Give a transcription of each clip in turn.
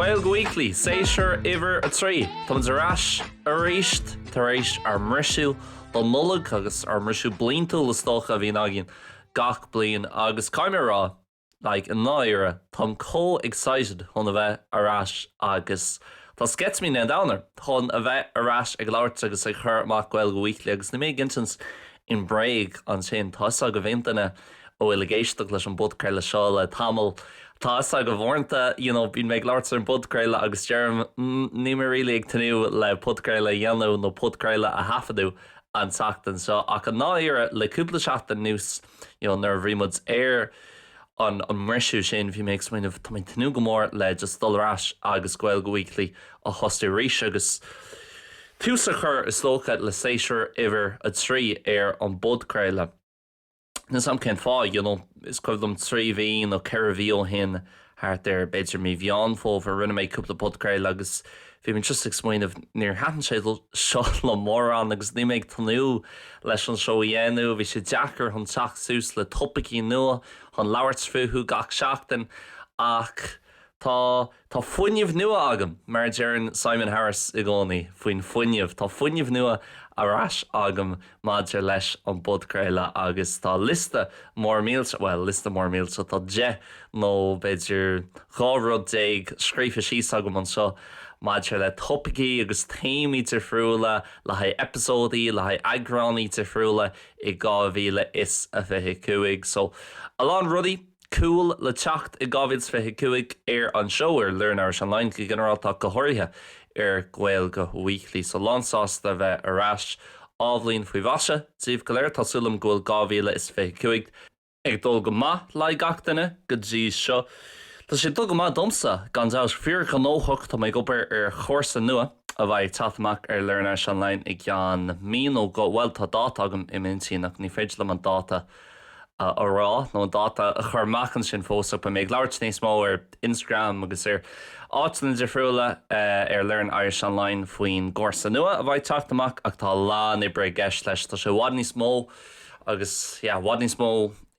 Gaeilge Weekly, Séasúr Uimhir a Trí. Táimid ar ais aríst tar éis ár mbriseadh don Nollaig agus ár mbriseadh bliantúil is dócha a bhíonn againn gach bliain agus caithfidh mé a rá, like, i ndáiríre, táim chomh excited chun a bheith ar ais agus tá sceitimíní an domhain orm chun a bheith ar ais ag labhairt agus ag cur amach Gaeilge Weekly agus níl mé ag insint aon bhréag ansin, tá 'fhios agaibh aon duine a bhfuil ag éisteacht leis an bpodchraoladh seo le tamall, tá 'fhios agaibh uaireanta, you know, bím ag labhairt ar an bpodchraoladh agus deirim mm níl mé really ag tnúth le podchraoladh a dhéanamh nó podchraoladh a thaifeadadh an tseachtain seo ach i ndáiríre le cúpla seachtain anuas, you know nuair a bhí muid ar an mbriseadh sin bhí mé ag smaoineamh tá mé ag tnúth go mór le just dul ar ais agus Gaeilge Weekly a thosú arís agus tús a chur is dócha le séasúr uimhir a trí ar an bpodchraoladh. Níl 's a'm cén fáth, you know is cuimhin liom trí mhí nó ceithre mhí ó shin thart ar b'fhéidir mí Mheán Fómhair, rinne mé cúpla podchraoladh agus bhí mé just ag smaoineamh, níor thaitin sé sin liom mórán agus níl mé ag tnúth leis seo a dhéanamh, bhí sé deacair chun teacht suas le topaicí nua chun labhairt fúthu gach seachtain, ach tá, tá fuinneamh nua agam, mar a deireann Simon Harris i gcónaí faoin fuinneamh, tá fuinneamh nua ar ais agam maidir leis an bpodchraoladh agus tá liosta mór mílte, bhuel, liosta mór mílte, tá deich nó b'fhéidir dhá rud déag scríofa síos agam anseo maidir le topaicí agus téamaí difriúla le haghaidh eipeasóidí, le haghaidh eagráin difriúla i 2025. So, a lán rudaí cool le teacht i 2025 ar an seó, ar Learn Irish Online go ginearálta ach go háirithe ar Gaeilge Weekly, so lánsásta a bheith ar ais. Athbhliain faoi mhaise daoibh go léir, tá súil agam go bhfuil 2025 ag dul go maith le haghaidh gach duine go dtí seo. Tá sé ag dul go maith domsa, gan dabht, fíorghnóthach, tá mé ag obair ar chúrsa nua, a bheidh ag teacht amach ar Learn Irish Online i gceann mí nó dhó, bhuel, tá dáta agam im' intinn ach ní féidir liom an dáta a rá nó an dáta a chur amach ansin fós ach beidh mé ag labhairt níos mó ar Instagram agus ar áiteanna difriúla ar Learn Irish Online faoin gcúrsa nua a bheidh ag teacht amach ach tá a lán oibre i gceist leis, tá sé i bhfad níos mó Agus, yeah, i bhfad níos mó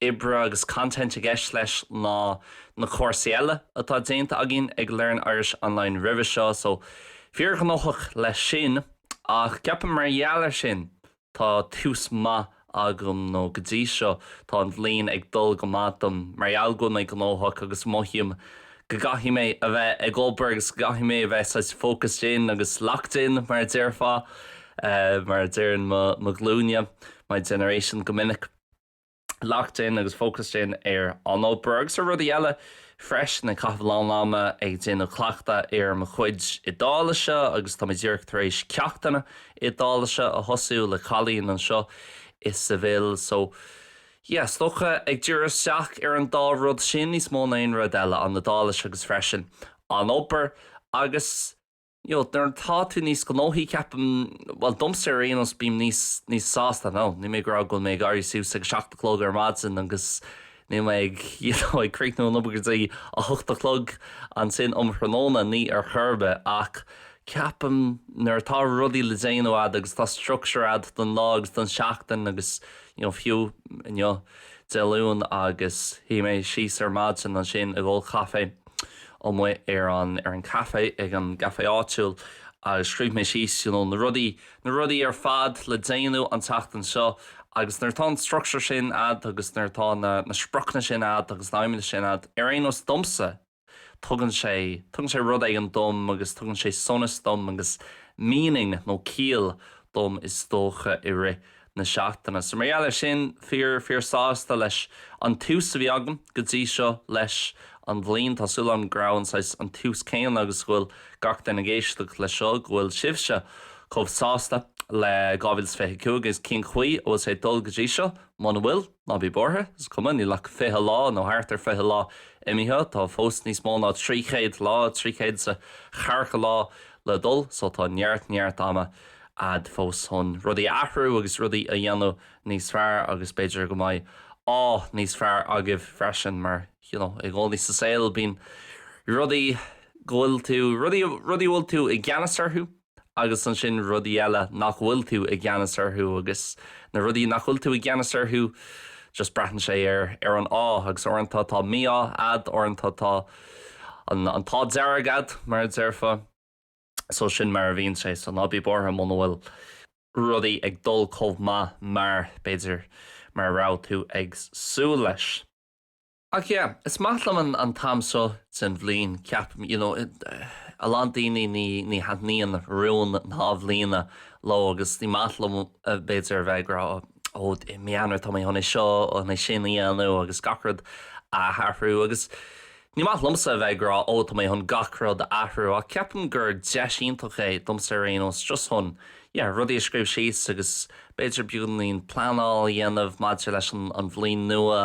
oibre agus content i gceist leis ná na cúrsaí eile atá déanta againn ag Learn Irish Online roimhe seo, so fíorghnóthach leis sin. Ach ceapaim mar gheall ar sin, tá tús maith agam, nó go dtí seo, tá an bhliain ag dul go maith dom mar gheall go bhfuil mé gnóthach agus mothaím go gcaithfidh mé a bheith ag obair agus go gcaithfidh mé a bheith saghas focused in agus locked in mar a déarfá, mar a deireann mo ghlúin, my generation go minic. Locked in agus focused in ar an obair agus ar rudaí eile freisin, ag caitheamh a lán ama ag déanamh cleachtadh ar mo chuid Iodáilise agus tá mé díreach tar éis ceachtanna Iodáilise a thosú le cailín anseo i Seville so, Yeah, is dócha, ag diriú isteach ar an dá rud sin níos mó ná aon rud eile, an Iodáilis agus freisin an obair agus you know nuair atá tú níos gnóthaí ceapaim, bhuel domsa ar aon nós bím níos, níos sásta, now níl mé ag rá go bhfuil mé ag éirí suas ag a seacht a chlog ar maidin agus níl mé ag you know ag críochnú an obair go dtí a hocht a chlog ansin um thráthnóna, níl ar chor ar bith ach ceapaim nuair atá rudaí le déanamh a'd agus tá structure a'd don lá agus don seachtain agus. Nó fiú inniu, Dé Luain, agus shuigh mé síos ar maidin ansin ag ól caife amuigh ar an café, ag an gcafé áitiúil, agus scríobh mé síos you know na rudaí, na rudaí ar fad le déanamh an tseachtain seo. Agus nuair atá an structure sin a'd agus nuair atá na, na spriocanna sin a'd agus na aidhmeanna sin a'd, ar aon nós domsa, tugann sé, tugann sé rud éigin dom agus tugann sé sonas dom agus meaning nó ciall dom is dócha i rith na seachtaine. So mar gheall ar sin, fíor, fíor sásta leis an tús a bhí agam go dtí seo leis an bhliain. Tá súil agam go raibh an saghas, an tús céanna agus go bhfuil gach duine ag éisteacht leis seo, go bhfuil sibhse chomh sásta le 2025 agus cén chaoi a bhfuil sé ag dul go dtí seo, muna bhfuil. Ná bí buartha, is cuma, níl ach fiche lá, nó thart ar fiche lá, imithe, tá fós níos mó ná trí chéad lá, trí chéad is a ceathracha lá, le dul, só tá neart, neart ama a'd fós chun rudaí a athrú agus rudaí a dhéanamh níos fearr agus b'fhéidir go mbeidh ádh níos fearr agaibh freisin mar you know i gcónaí sa saol bíonn rudaí go bhfuil tú, rudaí, rudaí a bhfuil tú i gceannas orthu. Agus ansin rudaí eile nach bhfuil tú i gceannas orthu agus na rudaí nach bhfuil tú i gceannas orthu just braitheann sé ar, ar an ádh agus uaireanta tá mí-ádh a'd, uaireanta tá an, an t-ádh dearg a'd mar a déarfá. So sin mar a bhíonn sé, so ná bí buartha muna bhfuil rudaí ag dul chomh maith mar, b'fhéidir, mar a raibh tú ag súil leis. Ach yeah, is maith liom an an t-am seo den bhliain, ceapaim. You know, a lán daoine ní ní thaitníonn rúin na hAthbhliana leo agus ní maith leo b'fhéidir a bheith ag rá oh i mí Eanáir tá mé chun é seo chun é sin a dhéanamh agus gach rud a athrú agus ní maith liomsa a bheith ag rá oh tá mé chun gach rud a athrú ach ceapaim gur deis iontach é, domsa ar aon nós, just chun yeah rudaí a scríobh síos agus b'fhéidir beagainín pleanáil a dhéanamh maidir leis an an bhliain nua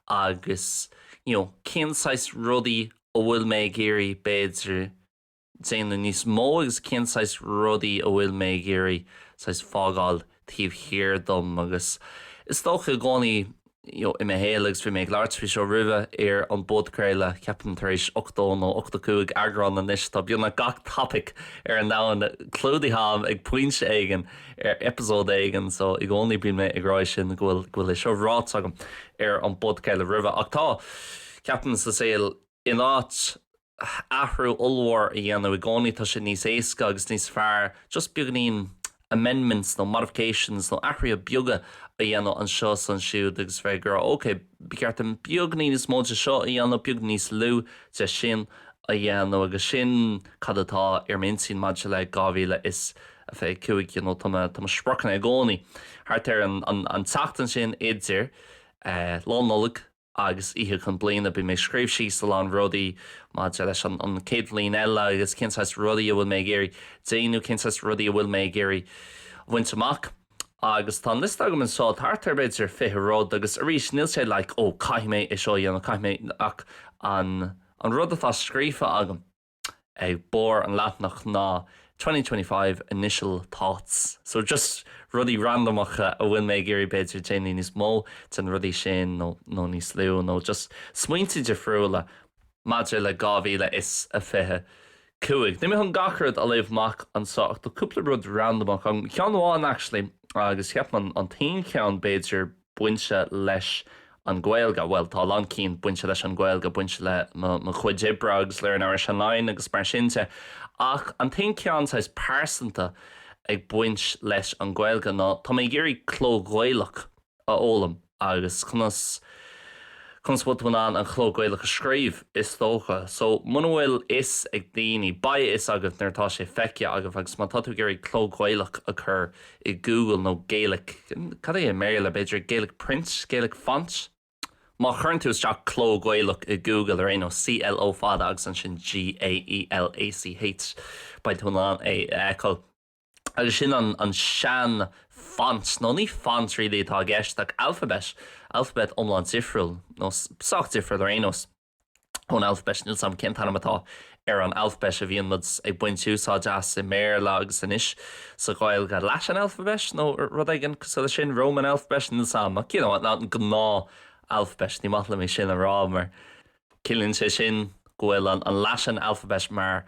agus you know cén saghas rudaí a bhfuil mé ag iarraidh b'fhéidir déanamh níos mó agus cén saghas rudaí a bhfuil mé ag iarraidh saghas fágáil taobh thiar dom agus is dócha i gcónaí you know i mo shaol agus bhí mé ag labhairt faoi seo roimhe ar an bpodchraoladh ceapaim tar éis 80 nó 85 eagrán anois tá beagnach gach topic ar an domhan clúdaithe agam ag pointe éigin ar eipeasóid éigin so i gcónaí bíonn mé ag rá é sin go bhfuil go bhfuil é seo ráite agam ar an bpodchraoladh roimhe ach ceapaim sa saol in áit athrú ollmhór a dhéanamh i gcónaí, tá sé níos éasca agus níos fearr just beagainín amendments nó modifications nó athruithe beaga a dhéanamh anseo is ansiúd agus bheith ag rá ok, ba cheart dom beagainín níos mó de seo a dhéanamh, beagainín níos lú de sin a dhéanamh agus sin cad atá ar m'intinn maidir le 2025 you know, tá mo spriocanna i gcónaí thart ar an tseachtain sin idir Lá Nollag, agus Oíche Chinn Bliana, bíonn mé ag scríobh síos a lán rudaí maidir leis an chéad bhliain eile agus cén saghas rudaí a bhfuil mé ag iarraidh déanamh, cén saghas rudaí a bhfuil mé ag iarraidh bhaint amach. Agus tá an liosta agam anseo, thart ar b'fhéidir fiche rud, agus arís níl sé like oh caithfidh mé é seo a dhéanamh, caithfidh mé, ach an rud atá scríofa agam. ag barr an leathnach ná twenty twenty five initial thoughts. So just rudaí randamacha a bhfuil mé ag iarraidh b'fhéidir déanamh níos mó de na rudaí sin nó nó níos lú nó just smaointe difriúla maidir le 2025. Níl mé chun gach rud a léamh amach anseo ach tá cúpla rud randamach ann, ceann amháin actually agus ceapaim an t-aon cheann b'fhéidir, bainte leis an Ghaeilge, bhuel, tá a lán cinn bainte leis an Ghaeilge, bainte le mo chuid oibre agus Learn Irish Online agus mar sin de, ach an t-aon cheann saghas pearsanta ag baint leis an Ghaeilge ná tá mé ag iarraidh cló Gaelach a fhoghlaim agus conas, conas, bhuel, tá mé in ann an chló Gaelach a scríobh, is dócha. So, muna bhfuil fhios ag daoine, beidh a fhios agaibh nuair atá sé feicthe agaibh agus má tá tú ag iarraidh cló Gaelach a chur, i Google nó Gaelach, cad é i mBéarla, b'fhéidir Gaelach Print, Gaelach Font? Má chuireann tú isteach Cló Gaelach i Google ar aon nós, CLO fada agus ansin GAELACH, beidh tú in ann é a fheiceáil. Agus sin an an sean font, nó ní font really atá i gceist ach alphabet, alphabet iomlán difriúil, nó sách difriúil ar aon nós. ón Alphabet, níl 's agam cén t-ainm atá ar an Alphabet a bhíonn muid ag baint úsáid as i mBéarla agus anois sa Ghaeilge, Latin Alphabet nó rud éigin cosúil leis sin, Roman Alphabet, níl 's agam, ach you know, an gnáth Alphabet, ní maith liom é sin a rá mar ciallaíonn sé sin go bhfuil an Latin Alphabet mar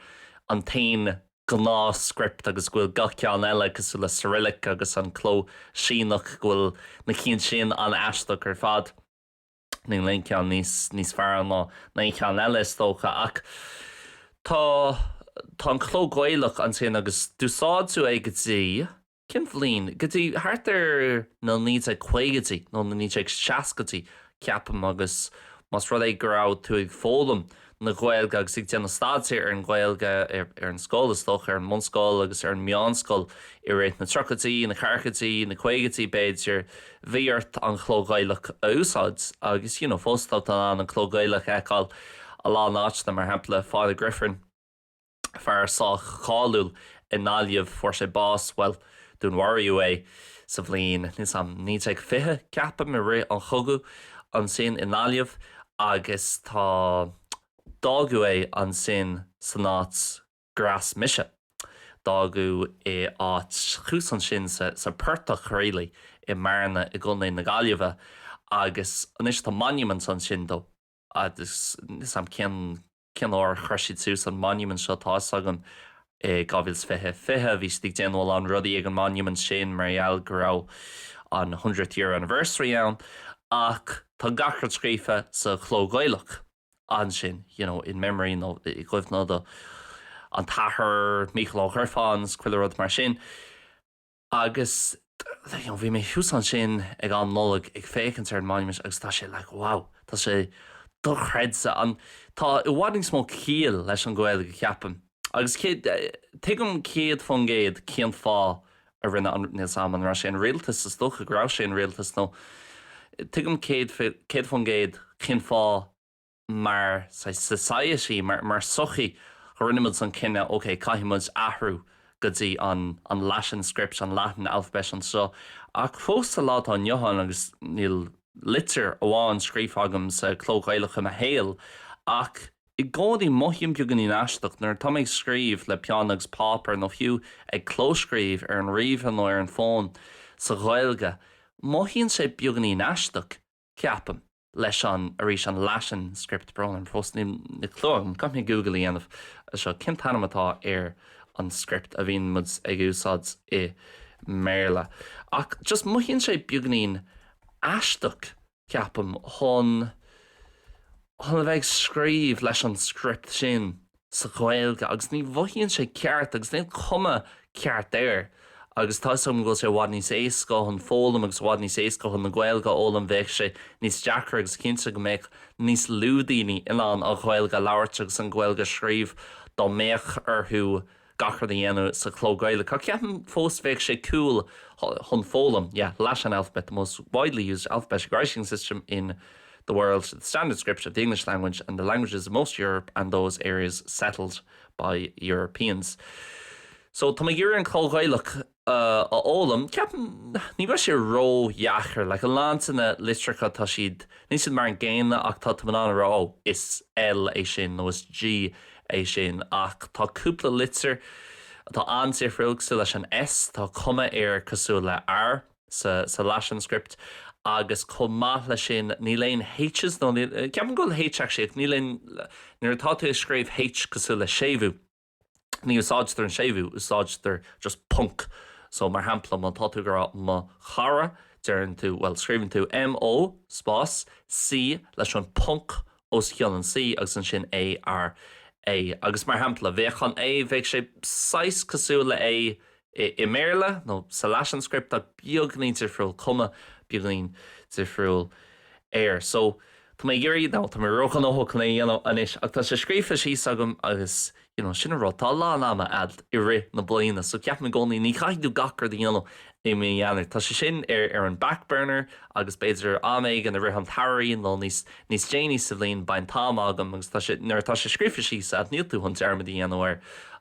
an t-aon gnáth script agus go bhfuil gach ceann eile cosúil le Cyrillic agus an cló Síneach go bhfuil na cinn sin an-aisteach ar fad. Níl aon cheann níos, níos fearr ná aon cheann eile is dócha ach tá, tá an cló Gaelach ansin agus d'úsáideadh é go dtí, cén bhliain? go dtí thart ar na 1950idí nó na 1960idí ceapaim agus más rud é go raibh tú ag foghlaim na Gaeilge agus ag déanamh staidéir ar an Ghaeilge ar an scoil, is dócha, ar an mbunscoil agus ar an meánscoil i rith na tríochaidí, na ceathrachaidí, na caogaidí, b'fhéidir, bhí ort an cló Gaelach a úsáid agus, you know, fós tá tú in ann an cló Gaelach a fheiceáil i lán áiteanna, mar shampla, Father Griffin. fear sách cáiliúil i nGaillimh, fuair sé bás, bhuel, dúnmharaíodh é sa bhliain, níl 's agam, 1920, ceapaim, i rith an chogadh ansin i nGaillimh agus tá, d'fhágadh é ansin san áit gur fhás mise, d'fhágadh é áit thuas ansin sa, sa bportach Ghriallais i mBearna i gContae na Gaillimhe agus anois tá monument ansin dó agus níl 's agam cén, cén uair chuir siad suas an monument seo ach tá fhios agam i 2020, fiche, bhí siad ag déanamh a lán rudaí ag an monument sin mar gheall go raibh an hundredth year anniversary ann ach tá gach rud scríofa sa chló Gaelach ansin you know in memory nó i gcuimhne do an t-athair Mícheál Ó Gríofa agus chuile rud mar sin. Agus bhí mé thuas ansin ag an Nollaig ag féachaint ar an Monument agus tá sé like wow, tá sé dochreidte. An, tá i bhfad níos mó ciall leis an Ghaeilge ceapaim. Agus cé, tuigim céad fán gcéad cén fáth a rinne an, níl 's a'm an raibh sé an rialtas, is dócha go raibh sé an rialtas nó, tuigim céad fán gcéad cén fáth, mar society, mar sochaí, go rinne muid an cinneadh, ok, caithfidh muid athrú go dtí an an Latin script, an Latin alphabet anseo, ach fós sa lá atá inniu ann, agus níl litir amháin scríofa agam sa chló Gaelach i mo shaol, ach i gcónaí mothaím beagáinín aisteach nuair atá mé ag scríobh le peann agus páipéar, nó fiú ag clóscríobh ar an ríomhaire nó ar an bhfón, sa Ghaeilge. Mothaíonn sé beagáinín aisteach, ceapaim. leis an, arís, an Latin script, brón orm, fós níl aon chlue agam, caithfidh mé Google a dhéanamh air seo, cén t-ainm atá ar an script a bhíonn muid ag úsáid i mBéarla? Ach just mothaíonn sé beagainín aisteach, ceapaim, chun, chun a bheith ag scríobh leis an script sin sa Ghaeilge agus ní mhothaíonn sé ceart agus níl cuma ceart air agus tá 'fhios agam go bhfuil sé i bhfad níos éasca chun foghlaim agus i bhfad níos éasca chun an Ghaeilge a fhoghlaim bheadh sé níos deacra agus cinnte go mbeadh níos lú daoine in ann an Ghaeilge a labhairt agus an Ghaeilge a scríobh dá mbeadh orthu gach rud a dhéanamh sa chló Gaelach ach ceapaim fós bheadh sé cool chun foghlaim yeah Latin alphabet the most widely used alphabetic writing system in the world, the standard script of the English language and the languages of most Europe and those areas settled by Europeans'. So tá mé ag iarraidh an cló Gaelach a fhoghlaim. Ceapaim, ní bheidh sé ró-dheacair. Like, a lán de na litreacha, tá siad, níl siad mar an gcéanna ach tá tú in ann a rá, oh, is L é sin nó is G é sin. Ach tá cúpla litir atá an-suimiúil, cosúil leis an S, tá cuma air cosúil le R. sa Latin script agus chomh maith leis sin níl aon H's nó, ceapaim go bhfuil H actually ach níl aon, nuair atá tú ag scríobh H cosúil le séimhiú ní úsáidtear an séimhiú, úsáidtear just ponc so mar shampla má tá tú ag rá mo chara deireann tú, bhuel scríobhann tú MO spás C leis an ponc os cionn an C agus ansin A, R, A. Agus mar shampla, bheadh an A, bheadh sé saghas cosúil le A i mBéarla nó sa Latin script ach beagainín difriúil, cuma beagáinín difriúil air. So, tá mé ag iarraidh, nó tá mé ró-ghnóthach chun é a dhéanamh anois ach tá sé scríofa síos agam agus Agus sin an rud. Tá a lán ama a'd i rith na bliana so ceapaim i gcónaí ní chaithfidh tú gach rud a dhéanamh i mí Eanáir. Tá sé sin ar an back burner agus b'fhéidir am éigin i rith an tsamhraidh nó níos déanaí sa bhliain beidh an t-am agam agus nuair atá sé scríofa síos a'd níl tú chun dearmad a dhéanamh air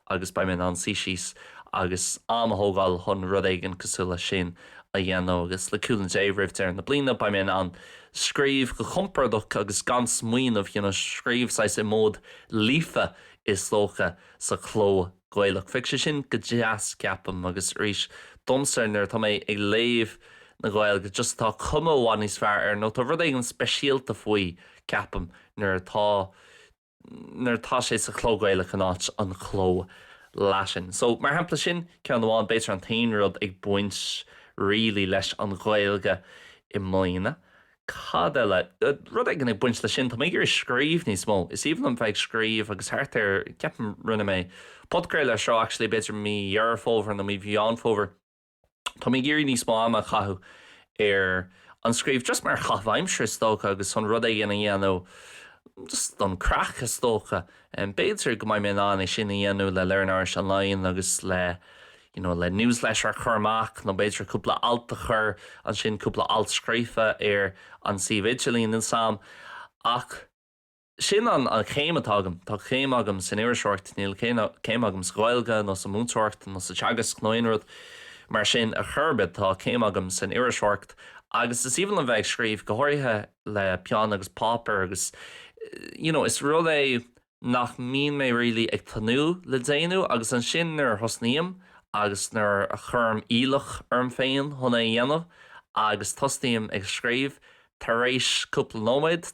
agus beidh mé in ann suí síos agus am a thógáil chun rud éigin cosúil leis sin a dhéanamh agus le cúnamh Dé roimh deireadh na bliana beidh mé in ann scríobh go compordach agus gan smaoineamh, you know, scríobh saghas i mód 'Líofa', is dócha, sa chló Gaelach. Bheadh sé sin go deas, ceapaim, agus arís, domsa, nuair atá mé ag léamh na Gaeilge, just tá cuma i bhfad níos fearr air, nó tá rud éigin speisialta faoi, ceapaim, nuair atá, nuair atá sé sa chló Gaelach in áit an chló Latin. So, mar shampla, sin ceann amháin, b'fhéidir an t-aon rud ag baint really leis an Ghaeilge i mbliana, Cad eile? Rud éigin ag baint leis sin. Tá mé ag iarraidh scríobh níos mó. Is aoibhinn liom bheith ag scríobh agus thart ar, ceapaim, rinne mé podchraoladh air seo actually b'fhéidir mí Dheireadh Fómhair nó mí Mheán Fómhair. Tá mé ag iarraidh níos mó ama a chaitheamh ar an scríobh just mar chaitheamh aimsire is dócha agus chun rud éigin a dhéanamh just don chraic is dócha. B'fhéidir go mbeidh mé in ann é sin a dhéanamh le Learn Irish Online agus le you know, le newsletter a chur amach nó b'fhéidir cúpla alt a chur ansin, cúpla alt scríofa ar an suíomh idirlín atá agam. Ach sin an chéim atá agam. Tá céim agam san iriseoireacht, níl céim agam sa Ghaeilge nó sa mhúinteoireacht nó sa teagasc nó aon rud mar sin ar chor ar bith. Tá céim agam san iriseoireacht agus is aoibhinn liom bheith ag scríobh, go háirithe le peann agus páipéar agus, you know, is rud é, nach mbíonn mé really ag tnúth le déanamh agus ansin nuair a thosnaím agus nuair a chuirim iallach orm féin chun é a dhéanamh agus tosnaím ag scríobh, tar éis cúpla nóiméad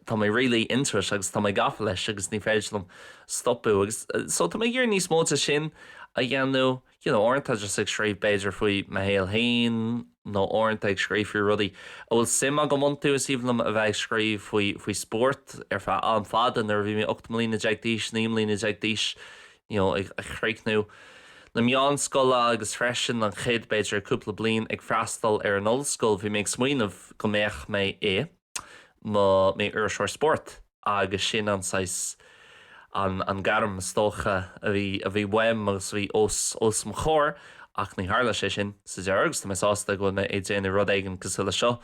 tá mé really into it agus tá mé gafa leis agus ní féidir liom stopadh so tá mé ag iarraidh níos mó de sin a dhéanamh. you know uaireanta just ag scríobh b'fhéidir faoi mo shaol féin nó uaireanta ag scríobh faoi rudaí a bhfuil suim agam iontu, is aoibhinn liom a bheith ag scríobh faoi faoi spórt ar feadh am fada nuair a bhí mé ocht mbliana déag d'aois, naoi mbliana déag d'aois you know ag críochnú na meánscoile agus freisin an chéad b'fhéidir cúpla bliain ag freastal ar an ollscoil bhí mé ag smaoineamh go mbeadh mé i mo iriseoir spóirt. agus sin an saghas an gairm, is dócha, a bhí, a bhí uaim agus a bhí os mo chomhair ach ní tharla sé sin sa deireadh agus tá mé sásta go bhfuil mé ag déanamh rud éigin cosúil leis seo,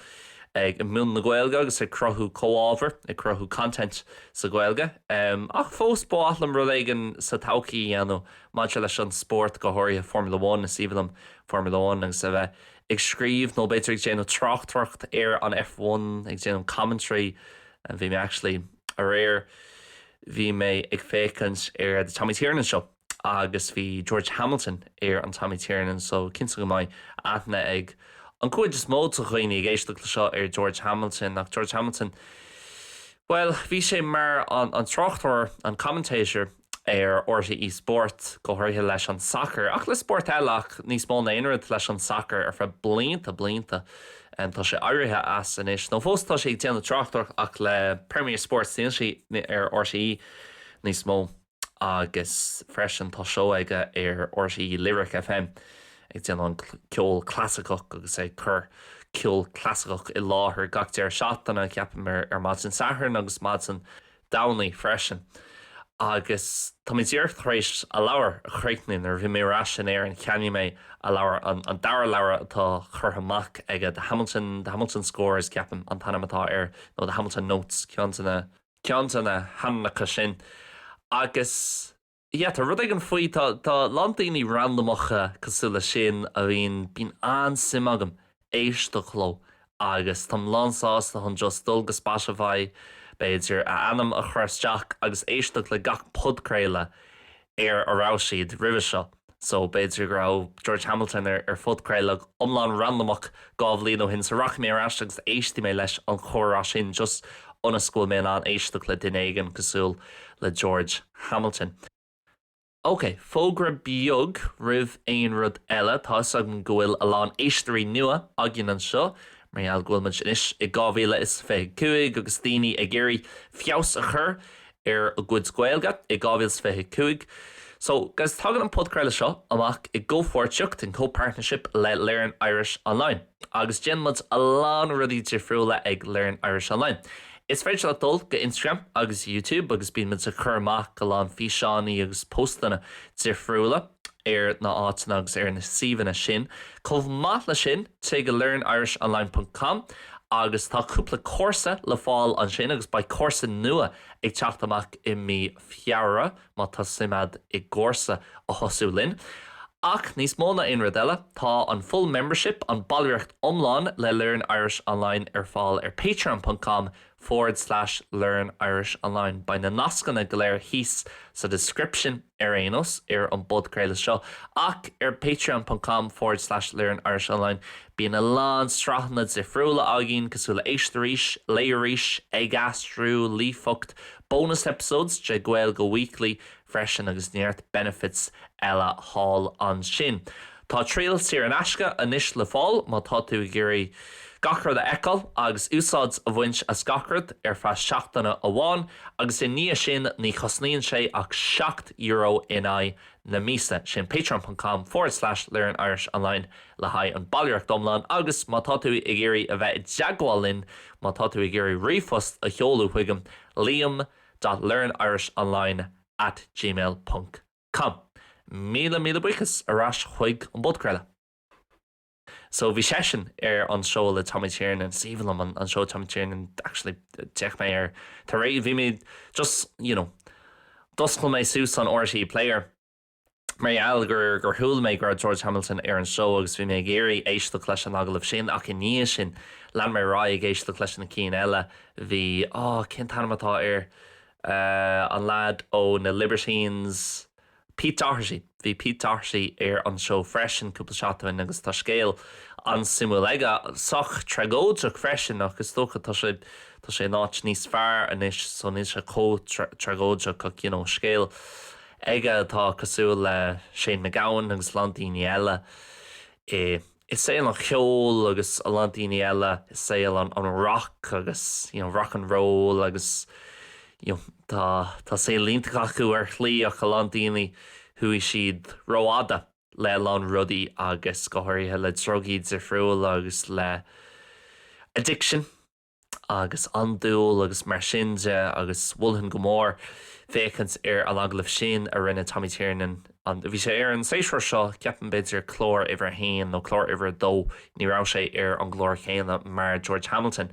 ag múineadh na Gaeilge agus ag cruthú comhábhar, ag cruthú content sa Ghaeilge, em, ach fós ba mhaith liom rud éigin sa todhchaí a dhéanamh maidir leis an spórt go háirithe Formula One, is aoibhinn liom Formula One agus a bheith ag scríobh nó b'fhéidir ag déanamh tráchtaireacht ar an F one, ag déanamh commentary bhí mé actually aréir, bhí mé ag féachaint ar The Tommy Tiernan Show agus bhí George Hamilton ar an Tommy Tiernan Show cinnte go mbeidh aithne ag an gcuid is mó de dhaoine ag éisteacht le seo ar George Hamilton ach George Hamilton bhuel bhí sé mar an tráchtóir, an commentator. ar RTÉ Sport, go háirithe leis an sacar, ach le spórt eile ach níos mó ná aon rud leis an sacar, ar feadh blianta blianta. Tá sé éirithe as anois, nó fós tá sé ag déanamh tráchtaireacht ach le Premier Sports níl sé ar RTÉ níos mó agus freisin tá seó aige ar RTÉ Lyric FM ag déanamh an ceol clasaiceach agus ag cur ceol clasaiceach i láthair gach deireadh seachtaine, ceapaim, ar maidin Sathairn agus maidin Domhnaigh freisin agus tá mé díreach tar éis a leabhar a chríochnú. Nuair a bhí mé ar ais in Éirinn cheannaigh mé a leabhar, an dara leabhar atá curtha amach aige, The Hamilton, The Hamilton Scores ceapaim an t-ainm atá air nó The Hamilton Notes, ceann de na, ceann de na hainmneacha sin agus. Yeah, tá rud éigin faoi, tá, tá a lán daoine randamacha cosúil le sin a bhíonn, bíonn an-suim agam éisteacht leo agus táim lán sásta chun just dul go Spotify, b'fhéidir, a ainm a chur isteach agus éisteacht le gach podchraoladh ar a raibh siad roimhe seo. So, b'fhéidir go raibh George Hamilton ar phodchraoladh iomlán randamach dhá bhliain ó shin, so rachaidh mé ar ais agus éistfidh mé leis an chomhrá sin, just ionas go bhfuil mé in ann éisteacht le duine éigin cosúil le George Hamilton. Ok, fógra beag roimh aon rud eile, tá 'fhios agam go bhfuil a lán éisteoirí nua againn anseo, mar gheall go bhfuil muid anois i 2025 agus daoine ag iarraidh feabhas a chur ar a gcuid Gaeilge i 2025 so guys tagann an podchraoladh seo amach i gcomhpháirtíocht, in co-partnership, le Learn Irish Online agus déanann muid a lán rudaí difriúla ag Learn Irish Online. Is féidir leat dul go Instagram agus YouTube agus bíonn muid ag cur amach go lán físeánaí agus póstanna difriúla. ar na áiteanna agus ar na suíomhanna sin. Chomh maith le sin, téigh go learnirishonline ponc com agus tá cúpla cúrsa le fáil ansin agus beidh cúrsa nua ag teacht amach i mí Feabhra má tá suim ad i gcúrsa a thosú linn. Ach níos mó ná aon rud eile, tá an full membership, an ballraíocht iomlán, le Learn Irish Online ar fáil ar patreon ponc com forward slash learn irish online Beidh na nascanna go léir thíos sa description ar aon nós, ar an bpodchraoladh seo, ach ar patreon.com forward slash learn irish online Bíonn a lán sraitheanna difriúla againn, cosúil le Éist Arís, Léigh Arís, Ag Aistriú, Líofacht, bonus episodes de Gaeilge Weekly, freisin agus neart benefits eile thall ansin. Tá triail saor in aisce anois le fáil má tá tú ag iarraidh gach rud a fheiceáil agus úsáid a bhaint as gach rud ar feadh seachtaine amháin agus i ndiaidh sin ní chosnaíonn sé ach seacht euro in aghaidh na míosa, sin patreon.com forward slash learnirishonline le haghaidh an ballraíocht iomlán agus má tá tú ag iarraidh a bheith i dteagmháil linn, má tá tú ag iarraidh ríomhphost a sheoladh chuigam, Liam. Dot Learn Irish Online at gmail ponc com Míle míle buíochas ar ais chuig an bpodchraoladh. So bhí seisean ar an seó le Tommy Tiernan, is aoibhinn liom an seó Tommy Tiernan actually d'fhéach mé air tar éis bhí mé just you know d'oscail mé suas an RTÉ player, mar gheall gur chuala mé go raibh George Hamilton ar an show agus bhí mé ag iarraidh éisteacht leis an agallamh sin ach i ndiaidh sin lean mé ar aghaidh ag éisteacht leis na cinn eile, bhí, á, cén t-ainm atá air, an lead ó na Libertines, Pete Doherty, bhí Pete Doherty ar an show freisin cúpla seachtain ó shin agus tá scéal an-suimiúil aige, sách tragóideach freisin ach is dócha, tá sé, tá sé in áit níos fearr anois so níl sé chomh tragóideach ach you know, scéal aige atá cosúil le Shane MacGowan agus a lán daoine eile i i saol an cheoil agus a lán daoine eile i saol an an rock agus you know rock and roll agus you know tá tá saol iontach acu ar shlí ach a lán daoine chuaigh siad rófhada le a lán rudaí agus go háirithe le drugaí difriúla agus le addiction. agus andúil agus mar sin de agus mholfainn go mór féachaint ar an agallamh sin a rinne Tommy Tiernan an, bhí sé ar an séasúr seo, ceapaim, b'fhéidir clár uimhir a haon nó clár uimhir a dó, ní raibh sé ar an gclár céanna mar George Hamilton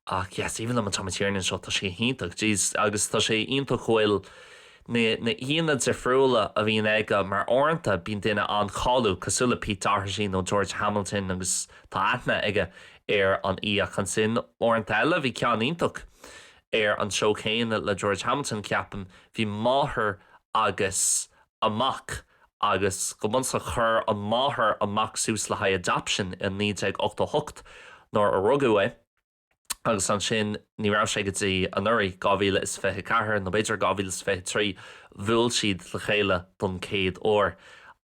ach yes, aoibhinn liom an Tommy Tiernan Show, tá sé go hiontach, jeez agus tá sé iontach go bhfuil. na haíonna difriúla a bhíonn aige mar uaireanta bíonn duine an-cháiliúil cosúil le Pete Doherty nó George Hamilton agus tá aithne aige ar an aoi ach ansin uaireanta eile bhí ceann iontach ar an show céanna le George Hamilton ceapaim, bhí máthair agus a mac agus go bunúsach chuir an máthair an mac suas le haghaidh adoption i 1988 nuair a rugadh é. agus ansin ní raibh sé go dtí anuraidh, 2024 nó b'fhéidir 2023, bhuail siad le chéile don chéad uair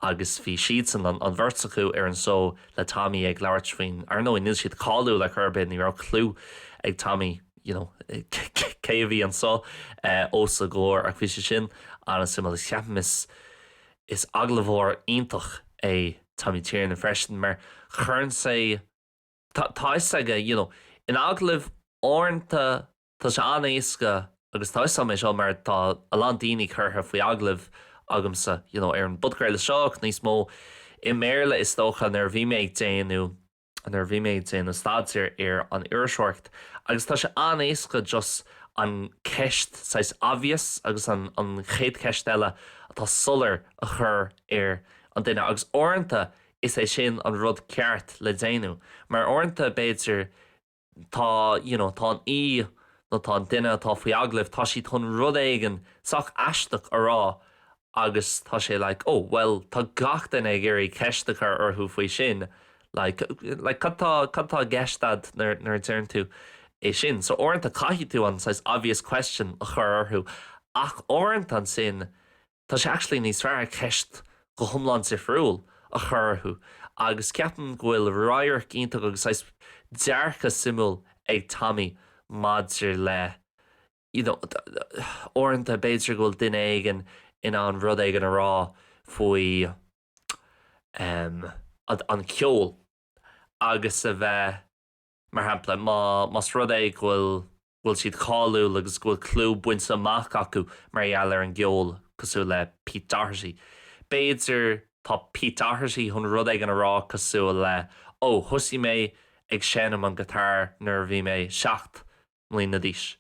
agus bhí siadsan, an bheirt acu, ar an show le Tommy ag labhairt faoin, ar ndóigh, níl siad cáiliúil ar chor ar bith, ní raibh cliú ag Tommy, you know, cé a bhí anso os a gcomhair ach bhí sé sin an-suimiúil agus ceapaim is agallóir iontach é Tommy Tiernan freisin mar chuireann sé Tá, tá 'fhios aige, you know. In agallaimh uaireanta tá sé an-éasca agus tá 'fhios a'm é seo mar tá a lán daoine curtha faoi agallamh agamsa, you know, ar an bpodcraoladh seo ach níos mó i mBéarla is dócha, nuair a bhí mé ag déanamh, nuair a bhí mé ag déanamh staidéir ar an iriseoireacht agus tá sé an-éasca just an ceist saghas obvious agus an, an chéad cheist eile atá soiléir a chur ar an duine agus uaireanta, is é sin an rud ceart le déanamh mar uaireanta b'fhéidir tá you know tá an aoi nó tá an duine atá faoi agallamh tá siad chun rud éigin sách aisteach a rá agus tá sé like oh well tá gach duine ag iarraidh ceist a chur orthu faoi sin like like cad tá cad tá i gceist a'd nuair nuair a deireann tú é sin so uaireanta caithfidh tú an saghas obvious question a chur orthu ach uaireanta ansin Tá sé actually níos fearr ceist go hiomlán difriúil a chur orthu agus ceapaim go bhfuil radharc iontach agus saghas dearcadh suimiúil ag Tommy maidir le you know uaireanta b'fhéidir go bhfuil duine éigin in ann rud éigin a rá faoi em an ceol agus a bheith Mar shampla, má, más rud é go bhfuil, go bhfuil siad cáiliúil agus go bhfuil clú bainte amach acu mar gheall ar an gceol, cosúil le Pete Doherty, b'fhéidir, tá Pete Doherty chun rud éigin a rá cosúil le, ó, thosaigh mé ag seinm an guitar nuair a bhí mé seacht mbliana d'aois.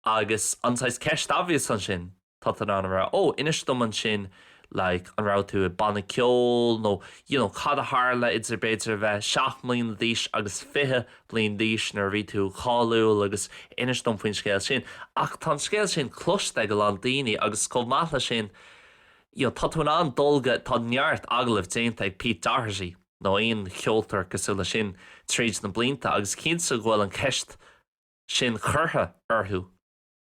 Agus an saghas ceist obvious ansin, tá tú in ann a rá, ó, inis dom ansin like, an raibh tú i banna ceoil nó you know cad a tharla idir b'fhéidir a bheith seacht mbliana d'aois agus fiche bliain d'aois nuair a bhí tú cáiliúil agus inis dom faoin scéal sin. Ach tá an scéal sin cloiste ag a lán daoine agus chomh maith leis sin you know tá tú in ann dul go, tá neart agallamh déanta ag Pete Doherty nó aon cheoltóir cosúil leis sin tríd na blianta agus cinnte go bhfuil an cheist sin curtha orthu,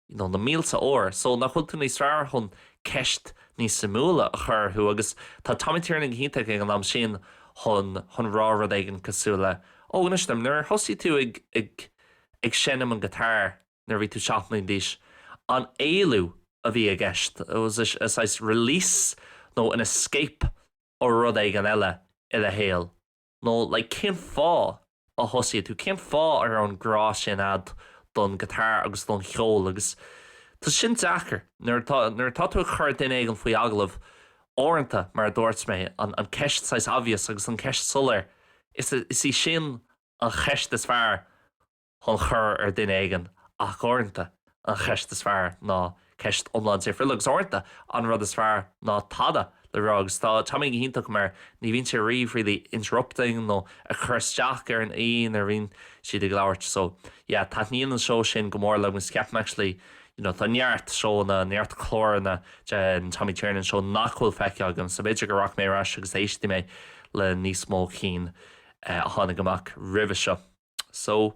you know, na mílte uair, so nach bhfuil tú níos fearr chun ceist níos suimiúla a chur orthu agus tá Tommy Tiernan go hiontach ag an am sin chun, chun rá rud éigin cosúil le, oh, inis dom, nuair a thosaigh tú ag, ag, ag seinm an guitar nuair a bhí tú seacht mbliana d'aois, an éalú a bhí i gceist, saghas release nó an escape ó rud éigin eile i do shaol. Nó like cén fáth a thosaigh tú, cén fáth a raibh an grá sin a'd don guitar agus don cheol agus tá sin deacair nuair atá, nuair atá tú ag cur duine éigin faoi agallamh, uaireanta, mar a dúirt mé, an, an ceist saghas obvious agus an ceist soiléir, is, is í sin an cheist is fearr. chun cur ar duine éigin ach uaireanta an cheist is fearr ná ceist go hiomlán difriúil agus uaireanta an rud is fearr ná tada le rá agus tá Tommy go hiontach mar ní bhíonn sé riamh really interrupting nó ag cur isteach ar an aoi nuair a bhíonn siad ag labhairt so yeah taitníonn an seó sin go mór liom agus ceapaim actually you know tá neart seóanna neart cláranna de an Tommy Tiernan Show nach bhfuil feicthe agam so b'fhéidir go rachaidh mé ar ais agus éistfidh mé le níos mó cinn a tháinig amach roimhe seo. So.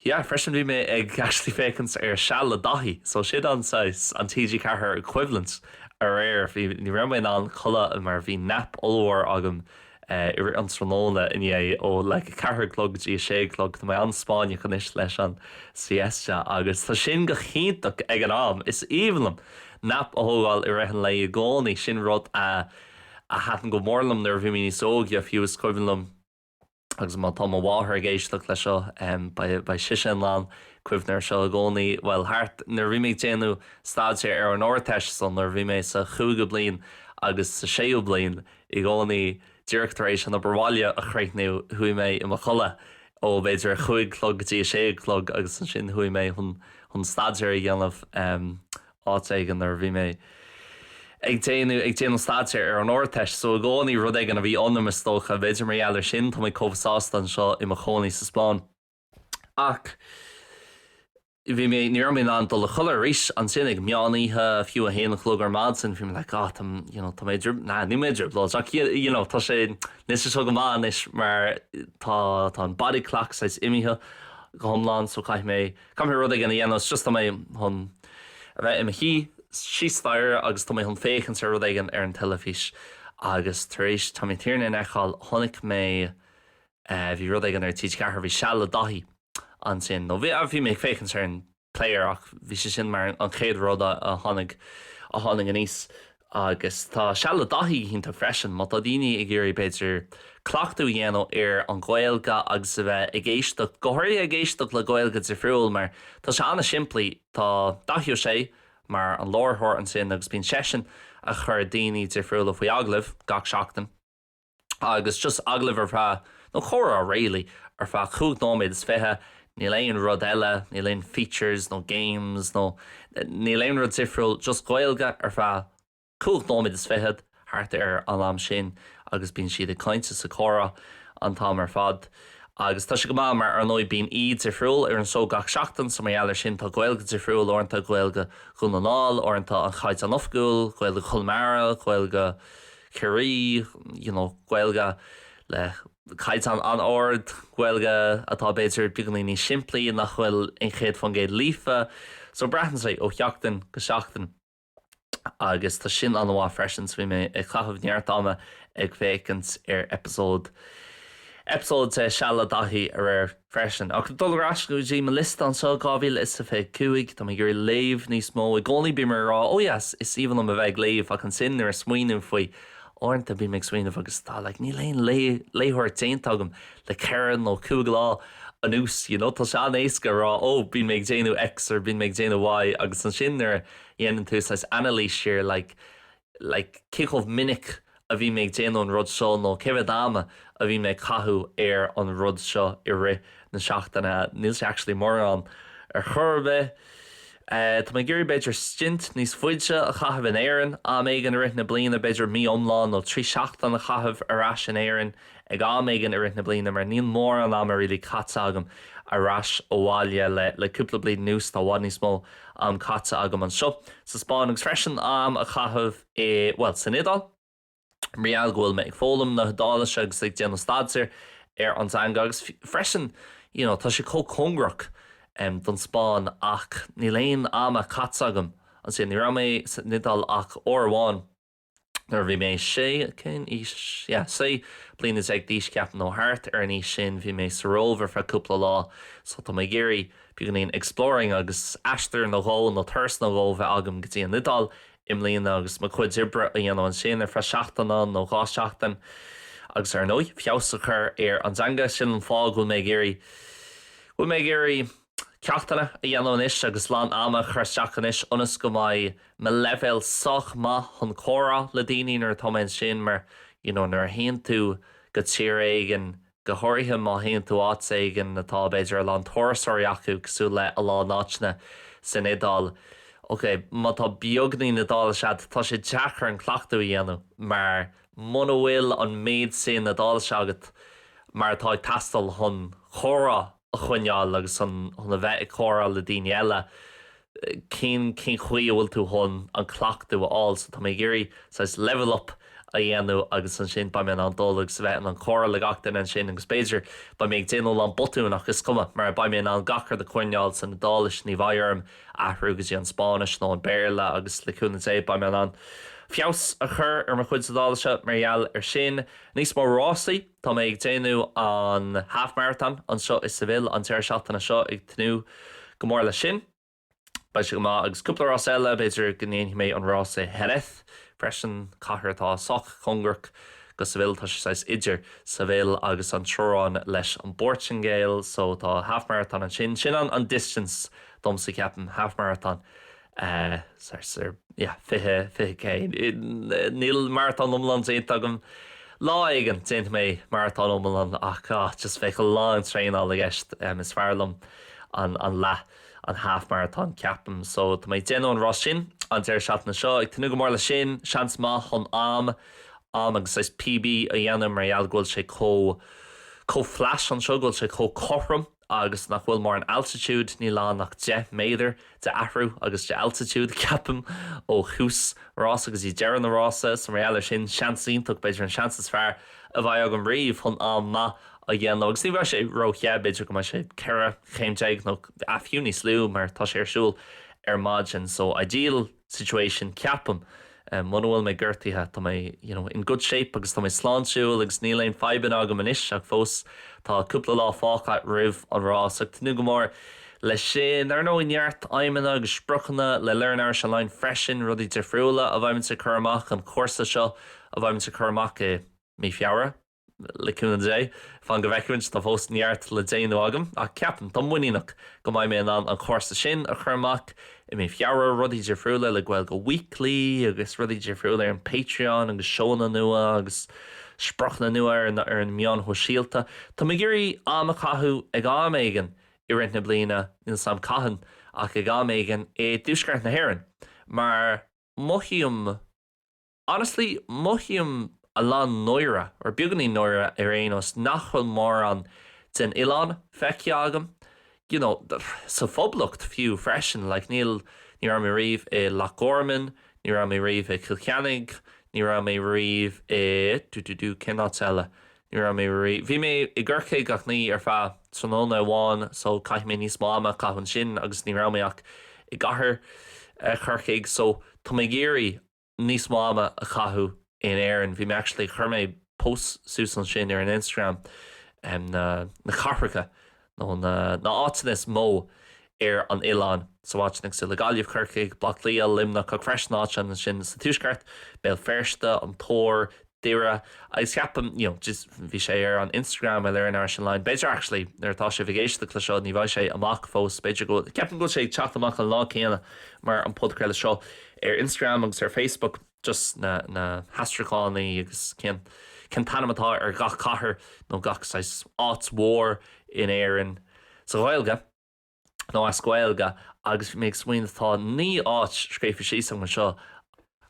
Yeah, freisin bhí mé ag actually féachaint ar Seal le Daithí, so sin é an saghas, an TG4 equivalent aréir, bhí, ní raibh mé in ann codladh mar bhí nap ollmhór agam i rith an tráthnóna inné ó like a ceathair a chlog go dtí a sé a chlog, tá mé an-Spáinneach anois leis an siesta agus tá sin go hiontach ag an am, is aoibhinn liom nap a thógáil i rith an lae i gcónaí, sin rud a a thaitn go mór liom nuair a bhí mé níos óige fiú, is cuimhin liom. Agus má tá mo mháthair ag éisteacht leis seo, beidh sise in ann cuimhneamh ar seo i gcónaí, bhuel, thart, nuair a bhí mé ag déanamh staidéir ar an Ardteist, so nuair a bhí mé sa chúigiú bliain agus sa séú bliain, i gcónaí, díreach tar éis an obair bhaile a chríochnú, chuaigh mé i mo chodladh ó b'fhéidir a cúig a chlog go dtí a sé a chlog agus ansin chuaigh mé chun, chun staidéar a dhéanamh. áit éigin nuair a bhí mé ag déanamh, ag déanamh staidéir ar an Ardteist. So i gcónaí, rud éigin a bhí ionam is dócha. B'fhéidir mar gheall ar sin tá mé chomh sásta anseo i mo chónaí sa Spáinn. Ach bhí mé, ní raibh mé in ann dul a chodladh arís ansin ag meán oíche, fiú a haon a chlog ar maidin, bhí mé like ah, tá, you know, tá mé i dtriob-, nah, níl mé i dtrioblóid ach you, you know, tá sé, níl sé seo go maith anois mar tá, tá an body clock saghas imithe go hiomlán so caithfidh mé, Caithfidh mé rud éigin a dhéanamh, is just tá mé chun a bheith i mo shuí síos staighre agus tá mé chun féachaint ar rud éigin ar an teilifís agus tar éis Tomaí Tiernan a fheiceáil chonaic mé eh bhí rud éigin ar TG4, bhí Seal le Daithí ansin nó bhí, bhí mé ag féachaint ar an player ach bhí sé sin mar an chéad rud a tháinig, a tháinig aníos. Agus tá Seal le Daithí go hiontach freisin, má tá daoine ag iarraidh, b'fhéidir, cleachtadh a dhéanamh ar an nGaeilge agus a bheith ag éisteacht, go háirithe ag éisteacht le Gaeilge difriúil, mar tá sé an-simplí, tá Daithí Ó Sé mar an láithreoir ansin agus bíonn seisean ag cur daoine difriúla faoi agallamh gach seachtain. agus just agallamh ar feadh, nó comhrá really, ar feadh chúig nóiméad is fiche, níl aon rud eile, níl aon features nó games nó níl aon rud difriúil, just Gaeilge ar feadh chúig nóiméad is fichead, thart ar an am sin agus bíonn siad ag caint is ag comhrá an t-am ar fad agus tá sé go maith mar ar ndóigh bíonn aoi difriúil ar an seó gach seachtain so mar gheall ar sin tá Gaeilge difriúil uaireanta, Gaeilge Dhún na nGall, uaireanta an Caighdeán Oifigiúil, Gaeilge Chonamara, Gaeilge. Ciarraí, you know, Gaeilge le caighdeán an-ard, Gaeilge atá b'fhéidir beagáinín níos simplí, nach bhfuil an 100% líofa, so braitheann sé ó sheachtain go seachtain agus tá sin an-mhaith freisin, so bhí mé ag caitheamh neart ama ag féachaint ar eipeasóid, eipeasóid de Seal le Daithí aréir. freisin. Ach dul ar ais go dtí mo liosta anseo, 2025, táim ag iarraidh léamh níos mó. I gcónaí bím ag rá, oh yes, is aoibhinn liom a bheith ag léamh, ach ansin nuair a smaoiním faoi, uaireanta bím ag smaoineamh agus tá, like, níl aon léitheoireacht déanta agam le ceithre nó cúig lá anuas, you know, tá sé an-éasca a rá, oh, bíonn mé ag déanamh X or bíonn mé ag déanamh Y agus ansin nuair a dhéanann tú saghas anailís ar, like, like, cé chomh minic a bhí mé ag déanamh an rud seo nó cé mhéad ama a bhí mé ag caitheamh ar an rud seo i rith na seachtaine, níl sé actually mórán ar chor ar bith. Tá mé ag iarraidh b'fhéidir stint níos fuide a chaitheamh in Éirinn am éigin i rith na bliana, b'fhéidir mí iomlán nó trí seachtaine a chaitheamh ar ais in Éirinn. ag am éigin i rith na bliana mar níl mórán ama really caite agam ar ais abhaile le le cúpla bliain anuas tá i bhfad níos mó am caite agam anseo sa Spáinn agus freisin am a chaitheamh i bhuel san Iodáil mar gheall go bhfuil mé ag foghlaim na hIodáilise agus ag déanamh staidéar ar an dteanga agus freisin you know tá sé chomh cóngarach em don Spáinn agus níl aon ama caite agam ansin ní raibh mé san Iodáil ach uair amháin Nuair a bhí mé sé, cén aois, yeah, sé bliana déag d'aois, ceapaim, nó thart ar an aois sin, bhí mé sa Róimh ar feadh cúpla lá. So, tá mé ag iarraidh, beagáinín exploring agus aistear nó dhó, nó turas nó dhó bheith agam go dtí an Iodáil i mbliana agus mo chuid oibre a dhéanamh ansin ar feadh seachtaine nó dhá seachtain agus ar ndóigh, feabhas a chur ar an dteanga, sin an fáth go bhfuil mé ag iarraidh, go bhfuil mé ag iarraidh. ceachtanna a dhéanamh anois agus a lán ama a chur isteach anois ionas go mbeidh mo leibhéal sách maith chun comhrá le daoine nuair atá mé ansin mar you know nuair a théann tú go tír éigin, go háirithe má théann tú áit éigin atá b'fhéidir a lán turasóirí acu cosúil le a lán áiteanna san Iodáil, ok má tá beagáinín Iodáilise agat tá sé deacair an cleachtú a dhéanamh mar muna bhfuil an méid sin Iodáilise agat mar atá ag teastáil chun comhrá a a choinneáil agus chun a bheith ag comhrá le daoine eile, cén, cén chaoi a bhfuil tú chun an cleachtú a fháil. So tá mé ag iarraidh saghas level up a dhéanamh agus ansin beidh mé in ann dul agus a bheith in ann comhrá le gach duine ansin agus b'fhéidir beidh mé ag déanamh a lán botún ach is cuma mar beidh mé in ann gach rud a choinneáil san Iodáilis, ní bheidh orm athrú go dtí an Spáinnis nó an Béarla agus le cúnamh Dé beidh mé in ann feabhas a chur ar mo chuidse Iodáilise mar gheall ar sin. Níos mó rásaí! Tá mé ag déanamh an Half Marathon anseo i Seville an deireadh seachtaine seo, ag tnúth go mór leis sin. Beidh sé go maith, agus cúpla rás eile, b'fhéidir go ndéanfaidh mé an rás i Jerez freisin, cathair atá sách cóngarach do Seville, tá sé saghas idir Seville agus an teorainn leis an bPoirtingéil, so tá Half Marathon ansin, sin an distance domsa ceapaim, Half Marathon. sar sar yeah fiche fiche K níl maratón iomlán déanta agam lá éigin déanfaidh mé maratón iomlán ach ah just bheadh a lán traenáil i gceist em is fearr liom an an leath an half marathon ceapaim so tá mé ag déanamh an rás sin an deireadh seachtaine seo ag tnúth go mór le sin seans maith chun am am agus saghas PB a dhéanamh mar gheall go bhfuil sé chomh chomh flat anseo go bhfuil sé chomh cothrom Agus nach bhfuil mórán altitude, níl ann ach 10 méadar de athrú agus de altitude, ceapaim, ó thús an rása go dtí deireadh na rása. So mar gheall ar sin, seans iontach, b'fhéidir an seans is fearr a bheidh agam riamh chun am maith a dhéanamh. Agus ní bheidh sé ró-the, b'fhéidir go mbeidh sé 14 chéim nó ah fiú níos lú mar tá sé ar siúl ar maidin. So, ideal? situation, ceapaim. Muna bhfuil mé gortaithe, tá mé, you know, in good shape agus tá mé sláintiúil agus níl aon fadhbanna agam anois ach fós tá cúpla lá fágtha roimh an rás. Ag tnúth go mór leis sin. Ar ndóigh, neart aidhmeanna agus spriocanna le Learn Irish Online freisin, rudaí difriúla a bheimid ag cur amach an cúrsa seo a bheimid ag cur amach i Mí Feabhra. Le cúnamh Dé, fan go bhfeicfimid, tá fós neart le déanamh agam ach ceapaim, táim muiníneach, go mbeidh mé in ann an cúrsa sin a chur amach i mí Feabhra, rudaí difriúla le Gaeilge Weekly agus rudaí difriúla ar an Patreon agus seóanna nua agus spriocanna nua ar na meáin shóisialta. Táim ag iarraidh am a chaitheamh ag am éigin i rith na bliana, níl 's am cathain, ach ag am éigin i dtuaisceart na hÉireann, mar mothaím Honestly, mothaím a lán náire, or beagáinín náire ar aon nós, nach bhfuil mórán den oileán feicthe agam, you know, sa Phoblacht fiú freisin, like níl, ní raibh mé riamh i Loch Garman, ní raibh mé riamh i Cill Chainnigh, ní raibh mé riamh i dú dú dú, cén áit eile? Ní raibh mé riamh, bhí mé i gCorcaigh ach ní ar feadh tráthnóna amháin so caithfidh mé níos mó ama a chaitheamh ansin agus ní raibh mé ach i gcathair Chorcaigh so tá mé ag iarraidh, níos mó ama a chaitheamh in Éirinn. Bhí mé actually, chuir mé post suas ansin ar Instagram, na na cathracha nó na na áiteanna is mó ar an oileán, so áiteanna cosúil le Gaillimh, Corcaigh, Baile Átha Cliath, Luimneach, ach freisin áiteanna ansin sa tuaisceart, Béal Feirste, an tIúr, Doire, agus ceapaim, you know, just, bhí sé ar an Instagram, ar Learn Irish Online, b'fhéidir actually nuair atá sibh ag éisteacht le seo ní bheidh sé amach fós, b'fhéidir go bhfuil, ceapaim go bhfuil sé ag teacht amach an lá céanna mar an podchraoladh seo ar Instagram agus ar Facebook, just na, na haistriúcháin, na agus cén, cén t-ainm atá ar gach cathair nó gach saghas áit mhór in Éirinn sa Ghaeilge. nó as Gaeilge agus bhí mé ag smaoineamh tá naoi áit scríofa síos agam anseo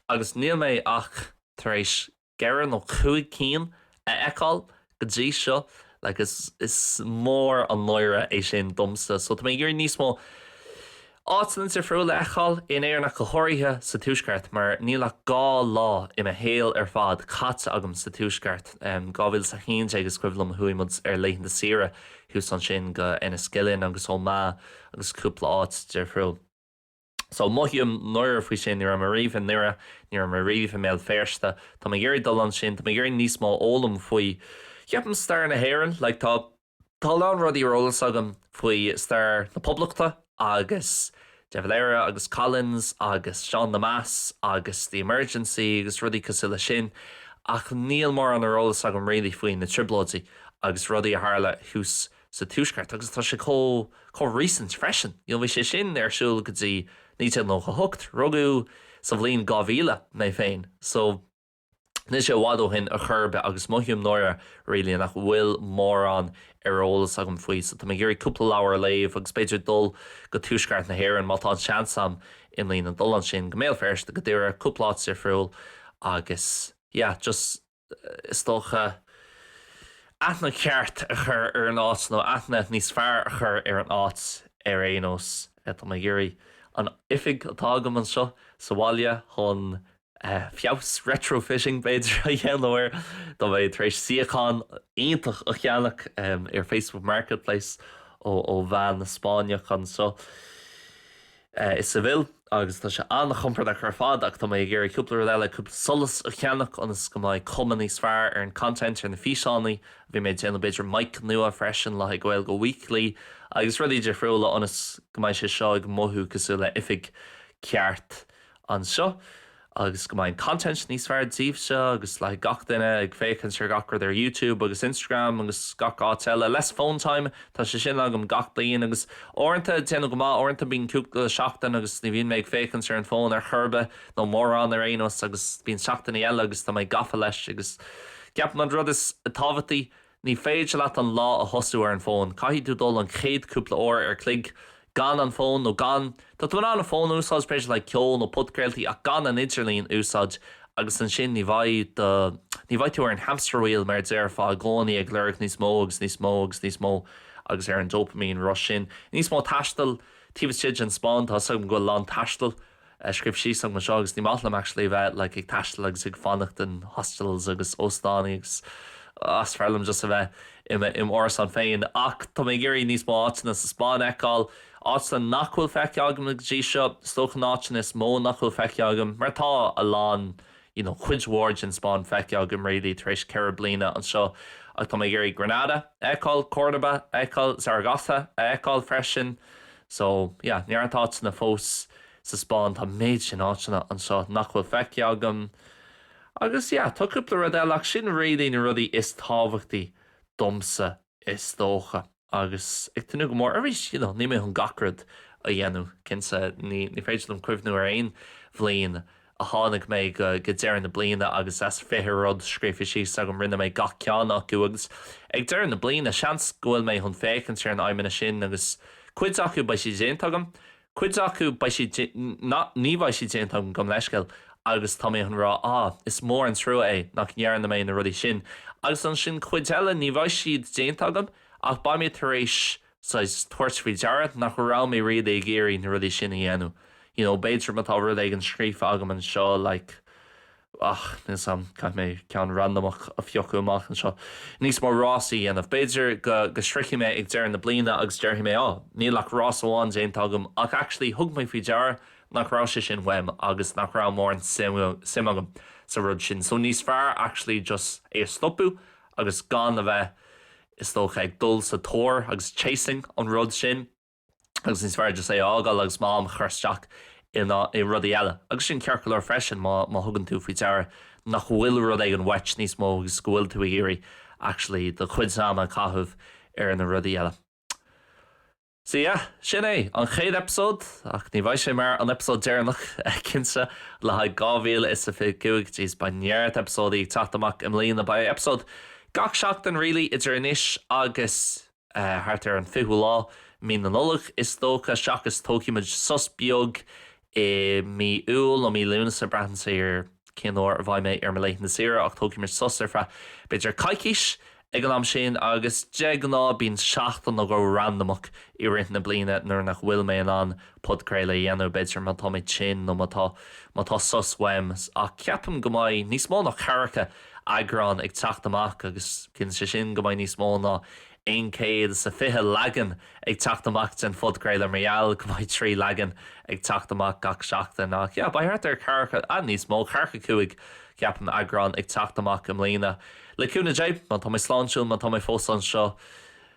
agus níl mé ach tar éis ceithre nó cúig cinn a fheiceáil go dtí seo like is is mór an náire é sin domsa so tá mé ag iarraidh níos mó áiteanna difriúla a fheiceáil in Éirinn ach go háirithe sa tuaisceart mar níl ach dhá lá i mo shaol ar fad caite agam sa tuaisceart, 2011 is cuimhin liom chuaigh muid ar laethanta saoire Thuas ansin go Enniskillen agus Omagh agus cúpla áit difriúil. So, mothaím náire faoi sin, ní raibh mé riamh i nDoire, ní raibh mé riamh i mBéal Feirste, tá mé ag iarraidh dul ansin, tá mé ag iarraidh níos mó a fhoghlaim faoi ceapaim stair na hÉireann, like tá, tá a lán rudaí ar eolas agam faoi stair na Poblachta, agus De Valera agus Collins agus Seán Lemass agus The Emergency agus rudaí cosúil leis sin ach níl mórán ar eolas agam really faoi na Trioblóidí agus rudaí a tharla thuas sa Tuaisceart agus tá sé chomh, chomh recent freisin you know bhí sé sin ar siúl go dtí 1998, rugadh sa bhliain 2000 mé féin so. Níl sé i bhfad ó shin ar chor ar bith agus mothaím náire, really, nach bhfuil mórán ar eolas agam faoi. So tá mé ag iarraidh cúpla leabhar a léamh agus b'fhéidir dul go dtuaisceart na hÉireann, má tá an seans a'm i mbliana dul ansin, go mBéal Feirste, go Doire, cúpla áit difriúil agus yeah, just is dócha, aithne cheart a chur ar an áit nó aithne níos fearr a chur ar an áit ar aon nós. Tá mé ag iarraidh an oifig atá agam anseo sa bhaile chun feabhas, retrofitting b'fhéidir, a dhéanamh air, tá mé tar éis suíochán iontach a cheannach ar Facebook Marketplace ó bhean Spáinneach anseo i Seville. Agus tá sé an-chompordach ar fad, ach tá mé ag iarraidh cúpla rud eile, cúpla solas a cheannach ionas go mbeidh cuma níos fearr ar an content, ar na físeánaí a bheidh mé ag déanamh, b'fhéidir mic nua freisin le haghaidh Gaeilge Weekly agus rudaí difriúla ionas go mbeidh sé seo ag mothú cosúil le oifig ceart anseo, agus go mbeidh content níos fearr daoibhse agus le gach duine ag féachaint ar gach rud ar YouTube agus Instagram agus gach áit eile, less phone time, tá sé sin agam gach bliain agus uaireanta déanaim go maith, uaireanta bíonn cúpla seachtain agus ní bhíonn mé ag féachaint ar an bhfón ar chor ar bith, nó mórán ar aon nós, agus bíonn seachtainí eile agus tá mé gafa leis agus ceapaim an rud is tábhachtaí, Ní féidir leat an lá a thosú ar an bhfón, caithfidh tú dul an chéad cúpla uair an chloig gan an fón, nó gan, tá tú in ann an fón a úsáid b'fhéidir le ceol nó podchraoltaí ach gan an idirlíon a úsáid agus ansin ní bheidh do, ní bheidh tú ar an hamster wheel mar a déarfá i gcónaí ag lorg níos mó agus níos mó agus níos mó agus ar an dopamine rush sin. Níos mó taistil taobh istigh den Spáinn, tá 'fhios agam go bhfuil a lán taistil scríofa síos a'm anseo agus ní maith liom actually a bheith like ag taisteal agus ag fanacht in hostels agus óstánaí agus ah is fearr liom just a bheith i mo árasán féin ach tá mé ag iarraidh níos mó áiteanna sa Spáinn a fheiceáil, áiteanna nach bhfuil feicthe agam go dtí seo, is dócha na áiteanna is mó nach bhfuil feicthe agam mar tá a lán you know cuid mhór den Spáinn feicthe agam really tar éis ceithre bliana anseo ach tá mé ag iarraidh Granada a fheiceáil, Córdoba a fheiceáil, Zaragoza a fheiceáil freisin. So, yeah, neart áiteanna fós sa Spáinn, tá an méid sin áiteanna anseo nach bhfuil feicthe agam. Agus yeah, tá cúpla rud eile, ach sin really na rudaí is tábhachtaí domsa is dócha. Agus ag tnúth go mór, arís, you know, níl mé chun gach rud a dhéanamh, cinnte, ní féidir liom cuimhniú ar aon bhliain a tháinig mé go deireadh na bliana agus as fiche rud scríofa síos agam rinne mé gach ceann acu agus ag deireadh na bliana seans go bhfuil mé chun féachaint ar na aidhmeanna sin agus cuid acu beidh siad déanta agam cuid acu beidh siad ní bheidh siad déanta agam gabh mo leithscéal agus tá mé chun rá ah is mór an trua é nach ndearna mé na rudaí sin agus ansin cuid eile ní bheidh siad déanta agam ach beidh mé tar éis saghas tabhairt faoi deara nach raibh mé really ag iarraidh na rudaí sin a dhéanamh, you know, b'fhéidir má tá rud éigin scríofa agam anseo like, ach, níl 's a'm, caithfidh mé ceann randamach a phiocadh amach anseo, níos mó rásaí a dhéanamh, b'fhéidir go, go sroichfidh mé ag deireadh na bliana agus déarfaidh mé, oh, níl ach rás amháin déanta agam ach actually thug mé faoi deara nach raibh sé sin uaim agus nach raibh mórán suim agam sa rud sin so níos fearr actually just é a stopadh agus gan a bheith is dócha, ag dul sa tóir agus chasing an rud sin agus níos fearr just é a fhágáil agus m'am a chur isteach i rudaí eile agus sin ceart go leor freisin má thugann tú faoi deara nach bhfuil rud éigin uait níos mó agus go bhfuil tú ag iarraidh actually do chuidse ama a chaitheamh ar na rudaí eile. So yeah, sin é, an chéad eipeasóid, ach ní bheidh sé mar an eipeasóid deireanach, cinnte, le haghaidh dhá mhíle is a fiche cúig, jeez, beidh neart eipeasóidí ag teacht amach i mbliana, beidh eipeasóid gach seachtain really idir anois agus, eh, thart ar an fichiú lá, Mí na Nollag, is dócha, seachas tógfaimid sos beag I mí Iúil nó mí Lúnasa, braitheann sé ar cén uair a bheidh mé ar mo laethanta saoire, ach tógfaimid sos ar feadh b'fhéidir coicís ag an am sin agus de ghnáth bíonn seachtain nó dhó randamach i rith na bliana nuair nach bhfuil mé in ann podchraoladh a dhéanamh, b'fhéidir má tá mé tinn nó má tá má tá sos uaim. Ach ceapaim go mbeidh níos mó ná ceathracha eagrán ag teacht amach agus ciallaíonn sé sin go mbeidh níos mó ná aon chéad is a fiche leagan ag teacht amach den phodchraoladh mar gheall go mbeidh trí leagan ag teacht amach gach seachtain. Ach yeah, beidh thart ar cheathracha, ah, níos mó, cheathracha cúig, ceapaim, eagrán ag teacht amach i mbliana, le cúnamh Dé, má tá mé sláintiúil, má tá mé fós anseo.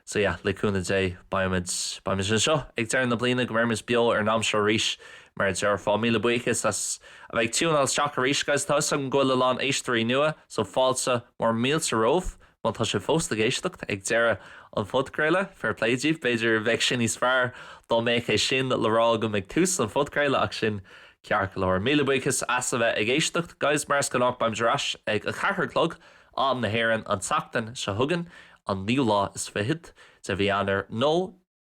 So yeah, le cúnamh Dé, beimid, beimid anseo ag deireadh na bliana, go mbeirimid beo ar an am seo arís, mar a déarfá. Míle buíochas as a bheith ag tiúineáil isteach arís, guys. Tá 'fhios agam go bhfuil a lán éisteoirí nua, so fáilte mór mílte romhaibh. Má tá sibh fós ag éisteacht ag deireadh an phodchraoladh, fair play díbh, b'fhéidir bheadh sé níos fearr dá mbeadh é sin le rá agam ag tús an phodchraoladh ach sin ceart go leor. Míle buíochas as a bheith ag éisteacht, guys, mar is gnách, beimid ar ais ag a ceathair a chlog, am na hÉireann, an tseachtain seo chugainn, an naoú lá is fichead de mhí Eanáir, nó.